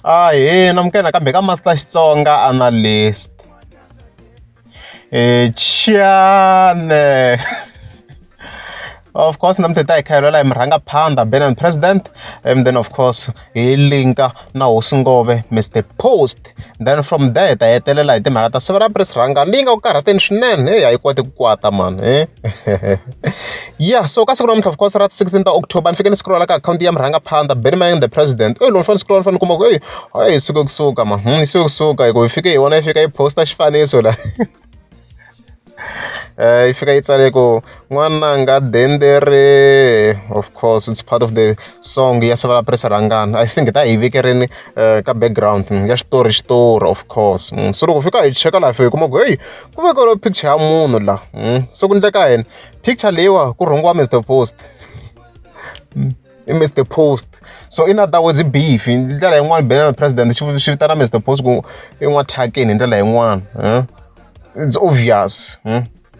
Ahee namukela kambe ka Master Xitsonga Analyst Chiyane of course namuntlha hi ta hi khayelwela hi murhangaphandha Ben and President and then of course hi linka na hosi ngove Mr Post then from there hi ta hetelela hi timhaka ta siku ra pres rhanga leyi nga ku karhateni swinene heyi a yi koti ku kwata mani he. ya so ka siku namuntlha of course ra sixteen ta October ni fike ni scroll-a ka akhawunti ya murhangaphandza Benny Mayeng the president eyi loko ni fanele ni scroll-a ni fanele ni kuma ku eyi hayi yi suke kusuka ma hmm, yi suke kusuka hi ku yi fike hi vona yi fika yi post-a xifaniso la eh, yi fika yi tsale ku n'wananga dendere of course it's part of the song ya savala presa rhangana i think ta hi vekerini eh, ka background ya xitori xitori of course hmm, so loko fika hi cheka laha fika hi kuma ku heyi ku vekeriwe picture ya munhu la hmm, se ku ndleka yena picture leyiwa ku rhungiwa Mr Post hmm, i Mr Post so in other words beef hi ndlela yin'wana bene na president swi vitana Mr Post ku i n'wa thyakeni hi ndlela yin'wana hmm. it's obvious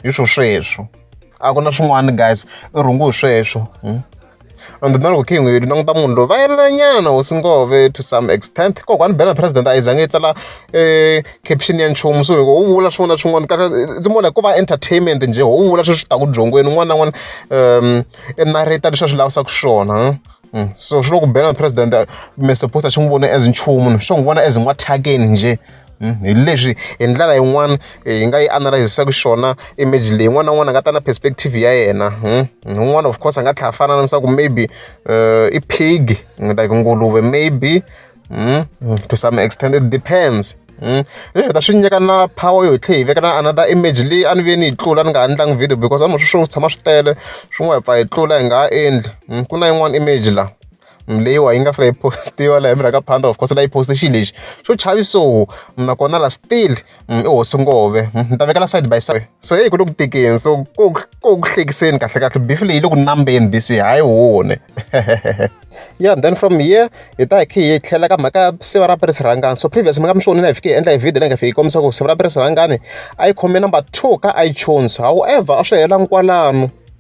hi swo sweswo a ku na swin'wana guys i rhungu hi sweswo and then loko khe hi n'wi languta munhu loyi va yelelanyana hosi ngove to some extent kokwani bela president a yi zange yi tsala um caption ya nchumu so loko u vula swin'wana na swin'wana ka ndzi vona ku va entertainment njhe ho u vula sweswi taku byongweni un'wana na un'wana um i narrata leswi a swi lavisaka swona hmm. so swi loko bela president mr post a xi n'wi voni as nchumu swo n'wi vona as n'wathakeni njhe hi leswi hi ndlela yin'wani hi nga yi analyse-saka xiswona image leyi n'wana na n'wana a nga ta na perspective ya yena un'wana of course a nga tlhela a fana na leswaku maybe i pig like nguluve maybe to some extent it depends leswi hi ta swi nyika na power yo tlhe hi veka na another image leyi a ni ve ni yi tlula ni nga ha endlangi video because a ni swi swo tshama swi tele swin'wana hi pfa hi tlula hi nga ha endli ku na yin'wana image laha. leyiwani yi nga fika yi post-iwa laha endzhaku ka phanda of course leyi post-e xilo lexi xo chavi so nakona la still i hosi ngove ni ta vekela side by side so heyi ku le ku tekeni so ko ko ku hlekiseni kahle kahle beef leyi yi le ku nambeni this hayi wone yeah then from here hi ta hi khe hi tlhela ka mhaka siva ra pere sirhangani so previous mi nga mi swi vonile hi fike hi endla hi video leyi nga fiki yi kombisa ku siva ra pere sirhangani a yi khome number two ka iTunes however a swi helanga kwalano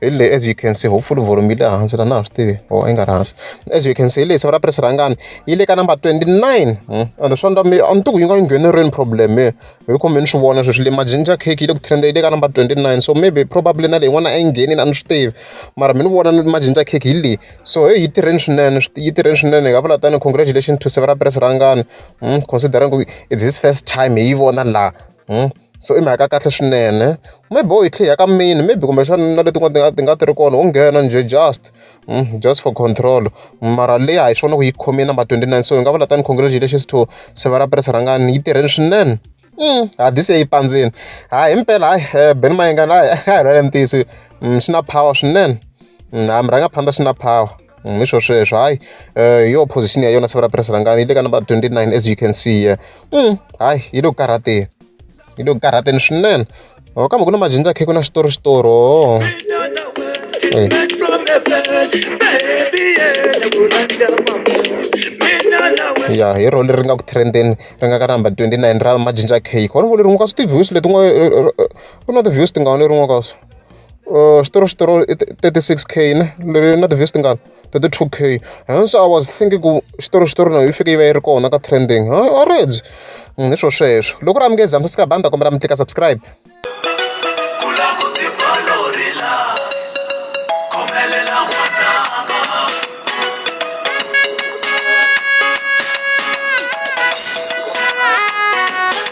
hi le as you can see hopefully volume yi le hansi la na ha swi tivi or i nga ri hansi as you can see hi leyi siva ra press rhangani yi le ka number 29 hmm? and swa ndwa a ni tiku yi nga yi ngheneriweni problem hi hi khombe ni swi vona sweswi le majinja cake yi le ku trenda yi le ka number 29 so maybe probably na leyi n'wana a yi nghenini a ni swi tivi mara mi ni vona majinja cake hi leyi so heyi yi tirheni swinene yi tirheni swinene hi nga vula tani congratulation to siva ra press rhangani hmm? considering it's his first time hi yi vona laha so i mhaka ya kahle swinene maybe u yi tlhe i ya ka mini maybe kumbexana na leti tin'wana ti nga ti nga ti ri kona ho nghena njhe just just for control mara leyi a hi swona ku yi khome number twenty nine so hi nga vula than congratulations to Sevara Pearce rhangani yi tirheni swinene ha this year yi pandzile ha himpela hayi Benny Mayengani hayi a hi lwela ntiyiso swi na power swinene ha mi rhanga phanda swi na power. Mm, isho sweswo hayi um yo position ya yona siku ra press rangani yi le ka number 29 as you can see here mm, hayi yi le ku karhateni yi le ku karhateni swinene o oh, kambe ku na majinja khe ku na xitori xitori o ya hi role ri nga ku trendeni ri nga ka number 29 ra majinja cake khona vo leri n'wi ka swi ti-views leti n'wi u na ti-views tingani leri n'wi ka swo Uh, xitolo xitolo i 36 k ne leri na ti-vest tingani 32 k and so i was thinking ku xitolo xitolo na yi fike yi va yi ri kona ka trending ha already mm, hi swo sweswo loko ri amukezi hambi subscribe a ni ta kombela mi tlika subscribe